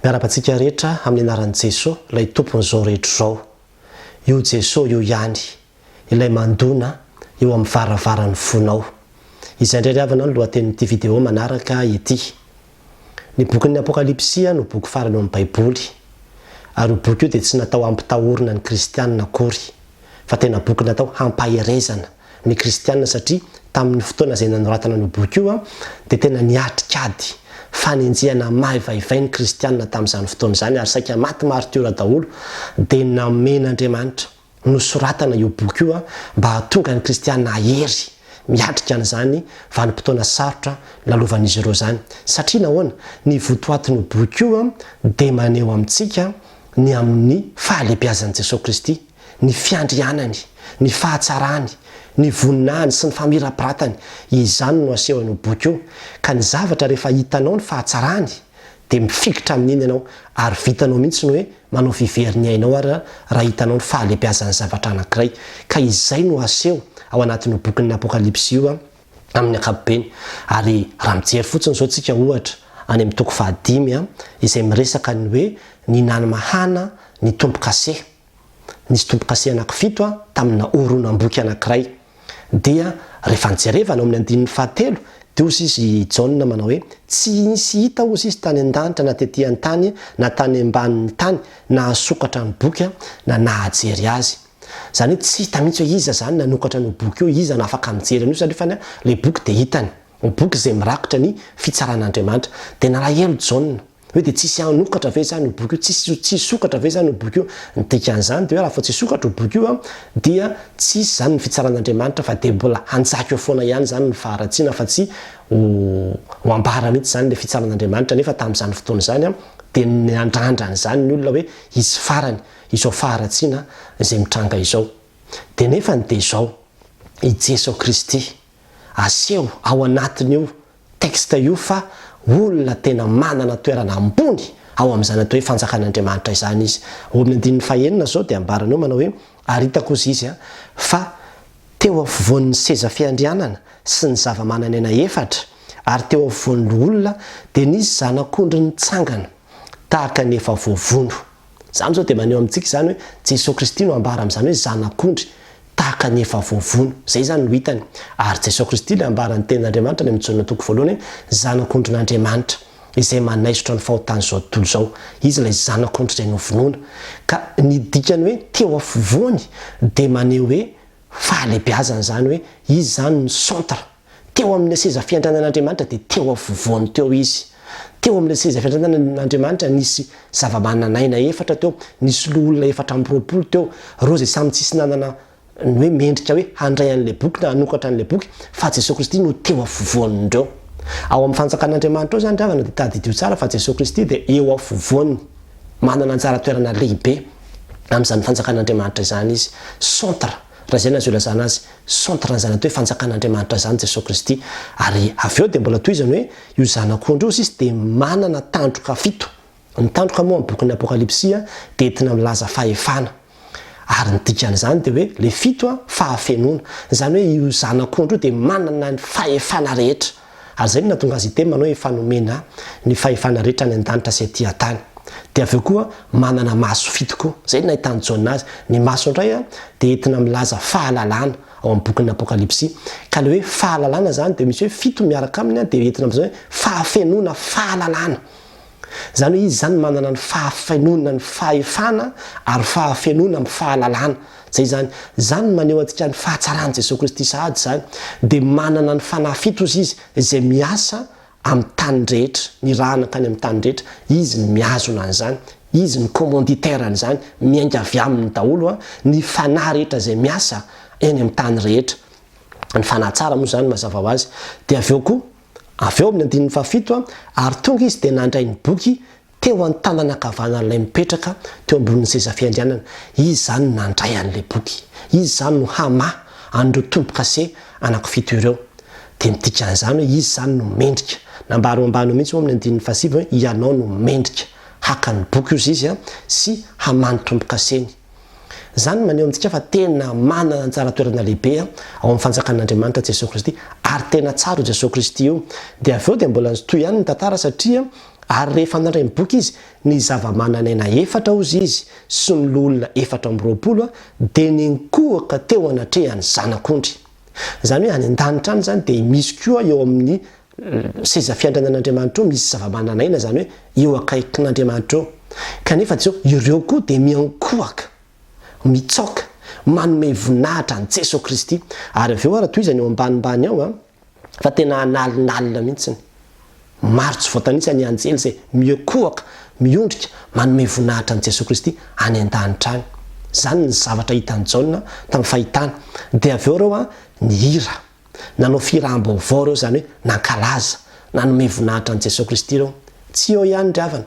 Miarahaba antsika rehetra amin'ny anaran'i Jesoa, ilay Tompon'izao rehetra izao. Io Jesoa io ihany, ilay mandona eo amin'ny varavaran'ny fonao. Izay indray ry havana no lohatenin'ity video manaraka ity. Ny bokin'ny Apokalypsy no boky farany ao amin'ny Baiboly. Ary io boky io dia tsy natao hampitahorina ny kristianina akory, fa tena boky natao hampaherezana. ny kristiana satria tamin'ny fotoana izay nanoratana an'io boky io dia tena niatrika ady fanenjehana maivaivay ny kristiana tamin'izany fotoana izany ary saika maty martiora daholo dia namen'Andriamanitra nosoratana io boky io mba hahatonga ny kristiana hahery miatrika an'izany vanim-potoana sarotra lalovan'izy ireo izany satria nahoana ny votoatin'io boky io dia maneho amintsika ny amin'ny fahalebiazan'i Jesoa Kristy ny fiandrianany, ny fahatsarany, ny voninahiny sy ny famirapiratany, izany no asehony io boky io, ka ny zavatra rehefa hitanao ny fahatsarany dia mifikitra amin'iny ianao ary vitanao mihitsy ny hoe manao fivery ny ainao ary raha hitanao ny fahalebiazan'ny zavatra anankiray, ka izay no aseho ao anatin'io bokin'ny Apokalypsy io amin'ny ankapobeny, ary raha mijery fotsiny izao tsika ohatra any amin'ny toko fahadimy izay miresaka ny hoe ny nany mahana ny tompo-kase. Nisy tombokase anakifito tamina horonam-boky anakiray. Dia rehefa nijerevana ao amin'ny andininy fahatelo, dia hozy izy i Jaona manao hoe, Tsy nisy hita hozy izy tany an-danitra na tety an-tany na tany ambanin'ny tany nahasokatra ny boky na nahajery azy. Izany hoe tsy hita mihitsy hoe iza izany nanokatra an'io boky io, iza no afaka mijery an'io satria fany ilay boky dia hitany. Boky izay mirakitra ny fitsaran'Andriamanitra. Dia nalahelo Jaona. Hoe dia tsisy hanokatra ve izany io boky io? Tsisy tsy hisokatra ve izany io boky io? Ny dikan'izany dia hoe raha vao tsy hisokatra io boky io dia tsisy izany ny fitsaran'Andriamanitra fa dia mbola hanjaka eo foana ihany izany ny faharatsiana fa tsy ho ho ambara mihitsy izany ilay fitsaran'Andriamanitra nefa tamin'izany fotoana izany dia niandrandra an'izany ny olona hoe hisy farany izao faharatsiana izay mitranga izao. Dia nefany dia izao, i Jeso Kristy aseho ao anatin'io texte io fa olona tena manana toerana ambony ao amin'izany atao hoe fanjakan'Andriamanitra izany izy. Ao amin'ny andininy fahenina izao dia ambarany eo manao hoe, Ary hitako, hozy izy, fa teo afovoan'ny seza fiandrianana sy ny zava-manan'aina efatra, ary teo afovoan'ny loholona, dia nisy zanak'ondry nitsangana tahaka ny efa voavono. Izany izao dia maneho amintsika izany hoe Jesoa Kristy no ambara amin'izany hoe zanak'ondry, tahaka ny efa voavono. Izay izany no hitany. Ary Jesoa Kristy ilay ambara ny tenin'Andriamanitra any amin'ny Jaona toko voalohany hoe zanak'ondrin'Andriamanitra, izay manaisotra ny fahotan'izao tontolo izao. Izy ilay zanak'ondry izay novonoina. Ka ny dikany hoe teo afovoany dia maneho hoe fahalehibiazana izany hoe izy izany no centre. Teo amin'ilay seza fiandrianan'Andriamanitra dia teo afovoany teo Izy. Teo amin'ilay seza fiandrianan'Andriamanitra nisy zava-manan'aina efatra teo, nisy loholona efatra amby roapolo teo, ireo izay samy tsisy nanana ny hoe mendrika hoe handray an'ilay boky na hanokatra an'ilay boky, fa Jesoa Kristy no teo afovoan'ireo. Ao amin'ny fanjakan'Andriamanitra ao izany ry havana dia tadidio tsara fa Jesoa Kristy dia eo afovoany, manana anjara toerana lehibe amin'izany fanjakan'Andriamanitra izany Izy. Centre. Raha izay no azo ilazana azy, centre an'izany atao hoe fanjakan'Andriamanitra izany Jesoa Kristy. Ary avy eo dia mbola tohizany hoe, io Zanak'ondry io hozy izy dia manana tandroka fito. Ny tandroka moa amin'ny bokin'ny Apokalypsy dia entina milaza fahefana. Ary ny dikan'izany dia hoe, ilay fito, fahafenoana. Izany hoe io Zanak'ondry io dia manana ny fahefana rehetra. Ary izay no nahatonga azy hiteny manao hoe efa nomena ny fahefana rehetra any an-danitra sy aty an-tany. Dia avy eo koa manana maso fito koa. Izay no nahitan'i Jaona azy. Ny maso indray dia entina milaza fahalalana ao amin'ny bokin'ny Apokalypsy. Ka ilay hoe fahalalana izany dia misy hoe fito miaraka aminy dia entina milaza hoe fahafenoana, fahalalana. Izany hoe izy izany manana ny fahafenoana ny fahefana ary fahafenoana amin'ny fahalalana. Izay izany. Izany no maneho antsika ny fahatsaran'i Jesoa Kristy sahady izany. Dia manana ny fanahy fito ozy izy izay miasa amin'ny tany rehetra, nirahana tany amin'ny tany rehetra. Izy no mihazona an'izany. Izy no commanditaire an'izany. Miainga avy aminy daholo ny fanahy rehetra izay miasa eny amin'ny tany rehetra. Ny fanahy tsara moa izany mazava ho azy. Dia avy eo koa, Avy eo amin'ny andininy fahafito, ary tonga izy dia nandray ny boky teo an-tanana ankavanan'ilay mipetraka teo ambonin'ny seza fiandrianana. Izy izany nandray an'ilay boky. Izy izany no hamaha an'ireo tombo-kase anako fito ireo. Dia midika an'izany hoe izy izany no mendrika. Nambara eo ambany eo mihitsy ao amin'ny andininy fahasivy hoe, Ianao no mendrika haka ny boky, hozy izy, sy hamaha ny tombo-kaseny. Izany no maneho amintsika fa tena manana anjara toerana lehibe ao amin'ny fanjakan'Andriamanitra Jesoa Kristy ary tena tsara io Jesoa Kristy io. Dia avy eo dia mbola nitohy ihany ny tantara satria ary rehefa nandray ny boky izy, ny zava-manan'aina efatra hozy izy sy ny loholona efatra amby roapolo dia ninkohoka teo anatrehan'ny Zanak'ondry. Izany hoe any an-danitra any izany dia misy koa eo amin'ny Seza fiandranan' Andriamanitra eo misy zava-mananaina, izany hoe eo akaikin' Andriamanitra eo, kanefa Jeso, ireo koa dia miankohaka, mitsaoka, manome voninahitra an'i Jeso Kristy. Ary avy eo ary tohizany eo ambanimbany ao a, fa tena analonalona mihitsiny. Maro tsy voatanisa ny anjely izay miokohaka, miondrika, manome voninahitra an'i Jeso Kristy any an-danitra any. Izany ny zavatra hitan'i Jaona tamin'ny fahitany. Dia avy eo ireo a, nihira. Nanao firy raham-baovao ireo, izany hoe nankalaza, nanome voninahitra an'i Jesoa Kristy ireo? Tsy eo ihany ry havana.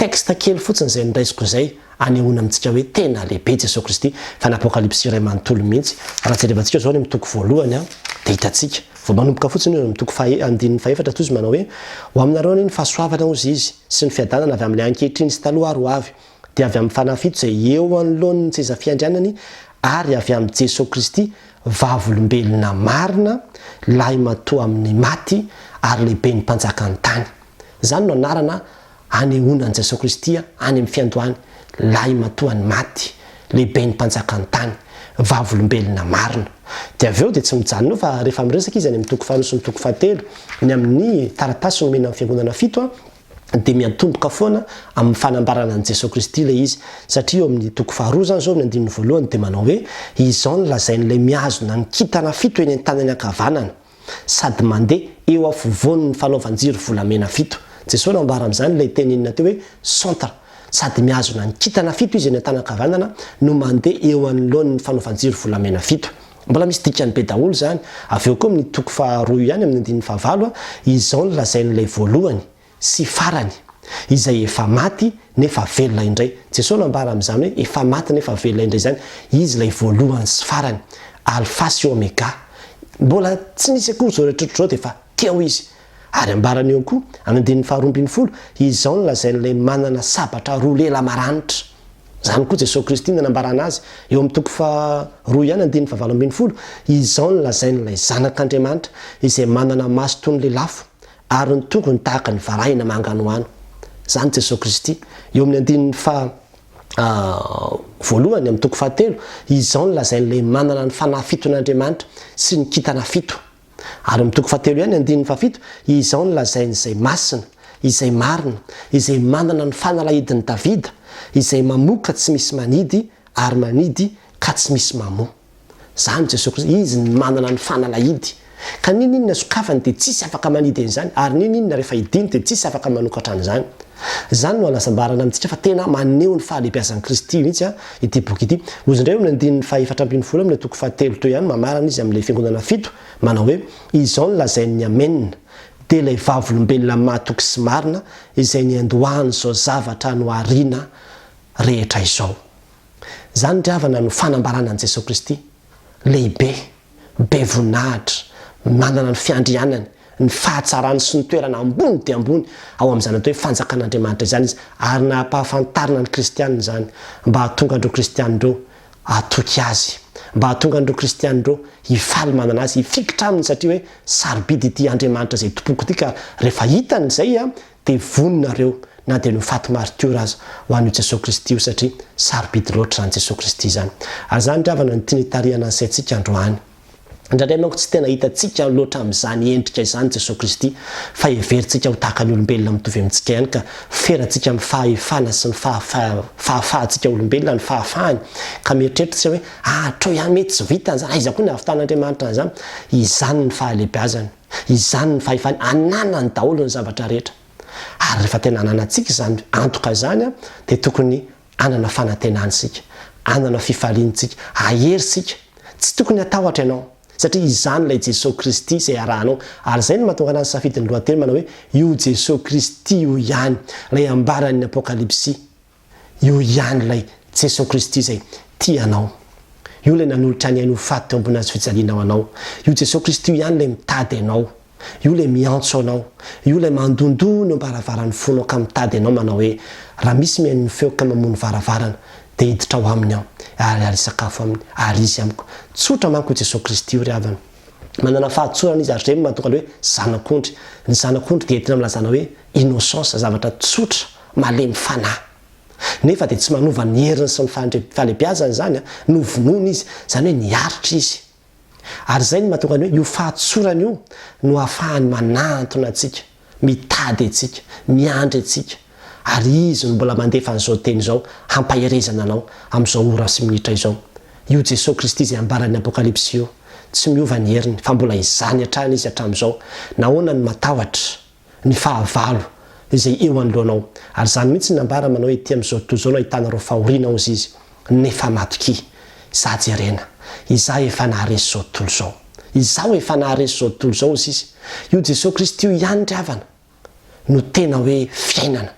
Texte kely fotsiny izay noraisiko izay hanehoana amintsika hoe tena lehibe Jesoa Kristy, fa ny Apokalypsy iray manontolo mihitsy. Raha jerevantsika izao ny amin'ny toko voalohany dia hitantsika, vao manomboka fotsiny io, amin'ny toko faha, andininy fahefatra, toa izy manao hoe, Ho aminareo anie ny fahasoavana, hozy Izy, sy ny fiadanana avy amin'ilay ankehitriny sy taloha ary ho avy. dia avy amin'ny fanahy fito izay eo anoloan'ny seza fiandrianany ary avy amin'i Jesoa Kristy, Vavolombelona marina, Lahimatoa amin'ny maty ary Lehiben'ny mpanjakan'ny tany. Izany no anarana anehoana an'i Jesoa Kristy any amin'ny fiandohany, Lahimatoan'ny maty, Lehiben'ny mpanjakan'ny tany, Vavolombelona marina. Dia avy eo dia tsy mijanona eo fa rehefa miresaka izy any amin'ny toko faharoa sy ny toko fahatelo, ny amin'ny taratasy nomena ny fiangonana fito, dia miantomboka foana amin'ny fanambarana an'i Jesoa Kristy ilay izy, satria eo amin'ny toko faharoa izany izao, ny andininy voalohany, dia manao hoe, Izao no lazain'ilay mihazona ny kintana fito eny an-tanany ankavanana, sady mandeha eo afovoany ny fanaovan-jiro volamena fito. Jesoa nambara amin'izany ilay teny inona teo hoe, centre, sady mihazona ny kintana fito Izy eny an-tanany ankavanana no mandeha eo anoloan'ny fanaovan-jiro volamena fito. Mbola misy dikany be daholo izany. Avy eo koa amin'ny toko faharoa ihany amin'ny andininy fahavalo, izao no lazain'ilay voalohany sy farany, Izay efa maty nefa velona indray. Jesoa nambara amin'izany hoe efa maty nefa velona indray izany, Izy ilay voalohany sy farany, Alfa sy Omega. Mbola tsy nisy akory izao rehetra ohatr'izao dia efa teo Izy. Ary ambarany eo koa, amin'ny andininy faharoa ambin'ny folo, izao no lazain'ilay manana sabatra roa lela maranitra. Izany koa Jesoa Kristy no nanambarana azy, eo amin'ny toko faharoa ihany andininy fahavalo ambin'ny folo, izao no lazain'ilay Zanak'Andriamanitra izay manana maso toy ny lelafo, ary ny tongony tahaka ny varahina manganohano. Izany Jesoa Kristy, eo amin'ny andininy faha voalohany amin'ny toko fahatelo, izao no lazain'ilay manana ny fanahy fiton'Andriamanitra sy ny kintana fito. Ary amin'ny toko fahatelo ihany andininy fahafito, izao no lazain'izay masina, izay marina, izay manana ny fanalahidin'i Davida, izay mamoa ka tsy misy manidy, ary manidy ka tsy misy mamoa. Izany Jesoa Kristy, Izy no manana ny fanalahidy. Ka n'inon'inona sokafany dia tsisy afaka manidy an'izany, ary n'inon'inona rehefa hidiny dia tsisy afaka manokatra an'izany. Izany no hanasambarana amintsika fa tena maneho ny fahalehibiazan'i Kristy mihitsy ity boky ity. Hoy izy indray eo amin'ny andininy fahefatra ambin'ny folo amin'ny toko fahatelo toy ihany mamarana izy amin'ilay fiangonana fito, manao hoe, Izao no lazain'ny Amen, dia ilay Vavolombelona mahatoky sy marina, izay niandohan'izao zavatra nohariana rehetra izao. Izany ry havana no fanambarana an'i Jesoa Kristy. Lehibe, be voninahitra, manana ny fiandrianany, ny fahatsarany sy ny toerana ambony dia ambony ao amin'izany atao hoe Fanjakan'Andriamanitra izany izy, ary nampahafantarina ny kristiana izany mba hahatonga an'ireo kristiana ireo hatoky azy, mba hahatonga an'ireo kristiana ireo hifaly manana azy, hifikitra aminy satria hoe sarobidy ity Andriamanitra izay tompoko ity ka rehefa hitany izay dia vono nareo na dia nofaty maritiora aza ho an'io Jesoa Kristy io satria sarobidy loatra izany Jesoa Kristy izany. Ary izany ry havana no tiany hitarihana ny saintsika androany. Indraindray manko tsy tena hitantsika loatra amin'izany endrika izany Jesoa Kristy fa heverintsika ho tahaka ny olombelona mitovy amintsika ihany ka ferantsika amin'ny fahefana sy ny fahafahantsika olombelona ny fahafahany ka mieritreritra hoe ahatrao ihany mety tsy vitany izany aiza koa ny havitan'Andriamanitra an'izany? Izany ny fahalehibeazany. Izany ny fahefany ananany daholo ny zavatra rehetra. Ary rehefa tena ananantsika izany antoka izany dia tokony hanana fanantenany isika, hanana fifaliany isika, hahery isika. Tsy tokony hatahotra ianao satria izany ilay Jesoa Kristy izay arahanao. Ary izay no mahatonga anah nisafidy ny lohateny manao hoe io Jesoa Kristy io ihany, ilay ambaran'ny Apokalypsy. Io ihany ilay Jesoa Kristy izay tia anao. Io ilay nanolotra ny ainy ho faty teo ambony hazofijaliana ho anao. Io Jesoa Kristy io ihany ilay mitady anao. Io ilay miantso anao. Io ilay mandohandoha ny eo am-baravaran'ny fonao ka mitady anao manao hoe, Raha misy mihaino ny feoko ka mamoha ny varavarana, dia hiditra ao aminy aho, ary harisakafo aminy, ary izy amiko. Tsotra manko io Jesoa Kristy io ry havana. Manana fahadisoana izy ary izay no mahatonga an'ilay hoe zanak'ondry. Ny zanak'ondry dia entina milazana hoe innocence, zavatra tsotra, malemy fanahy. Nefa dia tsy manova ny heriny sy ny fahalebiazany izany, novonoina izy, izany hoe niaritra izy. Ary izay no mahatonga ny hoe io fahadisoana io no ahafahany manahantona antsika. Mitady antsika, miandry antsika, ary Izy no mbola mandefa an'izao teny izao hampaherezana anao amin'izao ora sy minitra izao. Io Jesoa Kristy izay ambaran'ny Apokalypsy io, tsy miova ny heriny, fa mbola izany hatrany Izy hatramin'izao. Nahoana no matahotra? Ny fahavalo izay eo anoloanao. Ary izany mihitsy no nambara manao hoe, Ety amin'izao tontolo izao no ahitanareo fahoriana, hozy Izy. nefa matokia za jerena izaho efa naharesy zao tontolo zao izaho efa naharesy zao tontolo zao hozy izy io Jesosy Kristy io ihany ry havana no tena hoe fiainana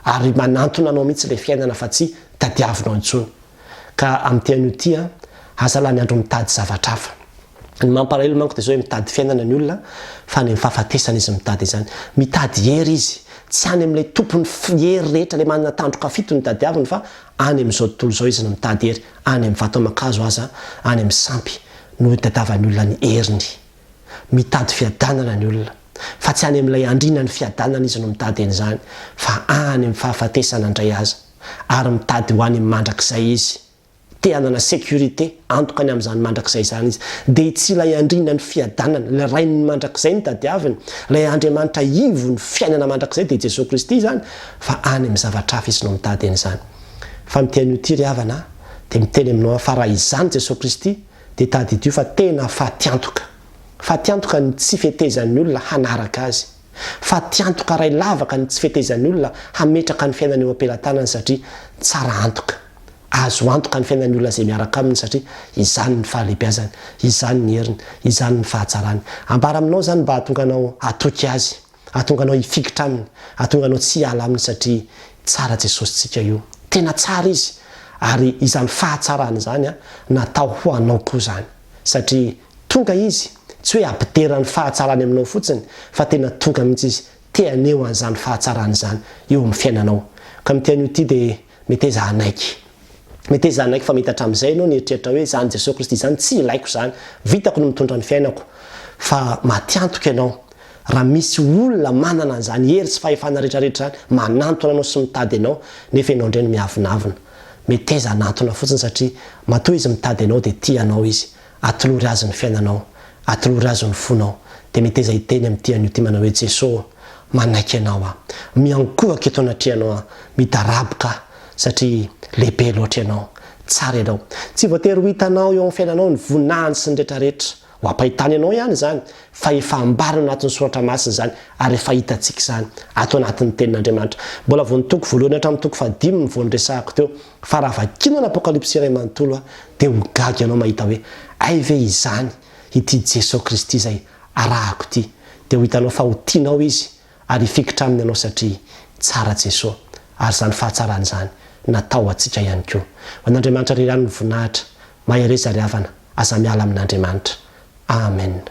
ary manantona anao mihitsy le fiainana fa tsy tadiavinao intsony ka amty anio ty a aza lany andro mitady zavatra hafa ny mampalahelo manko de zao hoe mitady fiainana ny olona fa any am fahafatesana izy mitady izany mitady hery izy tsy any amle tompony hery rehetra le manana tandroka fito no tadiaviny fa any amin'izao tontolo izao izy no mitady hery any amin'ny vato aman-kazo aza any amin'ny sampy no itadavan'ny olona ny heriny. Mitady fiadanana ny olona fa tsy any amin'ilay andriana ny fiadanana izy no mitady an'izany fa any amin'ny fahafatesana indray aza ary mitady ho any mandrakizay izy. Te hanana sécurité, antoka any amin'izany mandrakizay izany izy. Dia tsy ilay andriana ny fiadanana, ilay rain'ny mandrakizay no tadiaviny, ilay Andriamanitra ivon'ny fiainana mandrakizay dia Jesoa Kristy izany, fa any amin'ny zavatra hafa izy no mitady an'izany. Fa ny tian'io ity ry havana a, dia miteny aminao aho fa raha izany Jesoa Kristy, dia tadidio fa tena fatiantoka. Fatiantoka ny tsy fetezan'ny olona hanaraka Azy. Fatiantoka iray lavaka ny tsy fetezan'ny olona hametraka ny fiainany eo am-pelatanany satria tsara antoka. Azo antoka ny fiainan'ny olona izay miaraka aminy satria izany ny fahalebiazany, izany ny heriny, izany ny fahatsarany. Ambara aminao izany mba hahatonga anao hatoky Azy. Ahatonga anao hifikitra aminy, ahatonga anao tsy hiala aminy satria tsara Jesosy tsika io. Tena tsara izy ary izany fahatsarany izany natao ho anao koa izany. Satria tonga izy tsy hoe hampidera ny fahatsarany aminao fotsiny fa tena tonga mihitsy izy te haneho an'izany fahatsarany izany eo amin'ny fiainanao. Ka ny tiany ho tia dia. Meteza hanaiky. Meteza hanaiky fa mety hatramin'izay ianao nieritreritra hoe, Izany Jesoa Kristy izany, tsy ilaiko izany. Vitako ny mitondra ny fiainako. Fa matiantoka ianao. Raha misy olona manana an'izany hery sy fahefana rehetrarehetra izany, manantona anao sy mitady anao, nefa ianao indray no miavonavona. Meteza hanantona fotsiny satria matoa Izy mitady anao dia tia anao Izy. Atolory Azy ny fiainanao, atolory Azy ny fonao, dia meteza hiteny amin'ity anio ity manao hoe, Jeso ô, manaiky Anao aho. Miankohoka eto anatrehanao aho, midaraboka aho, satria lehibe loatra Ianao. Tsara Ianao. Tsy voatery ho hitanao eo amin'ny fiainanao ny voninahiny sy ny retraretra. Ho ampahitany anao ihany izany, fa efa ambariny ao anatin'ny Soratra Masina izany, ary efa hitantsika izany ato anatin'ny Tenin'Andriamanitra. Mbola vao ny toko voalohany hatramin'ny toko fahadimy vao niresahako teo, Fa raha vakianao ny Apokalypsy iray manontolo dia ho gaga ianao mahita hoe hay ve izany ity Jeso Kristy izay arahako ity. Dia ho hitanao fa ho tianao Izy ary hifikitra Aminy ianao satria tsara Jeso. Ary izany fahatsarana izany natao ho antsika ihany koa. Ho an'Andriamanitra Ry ihany ny voninahitra. Mahereza ry havana, aza miala amin'Andriamanitra. Amen.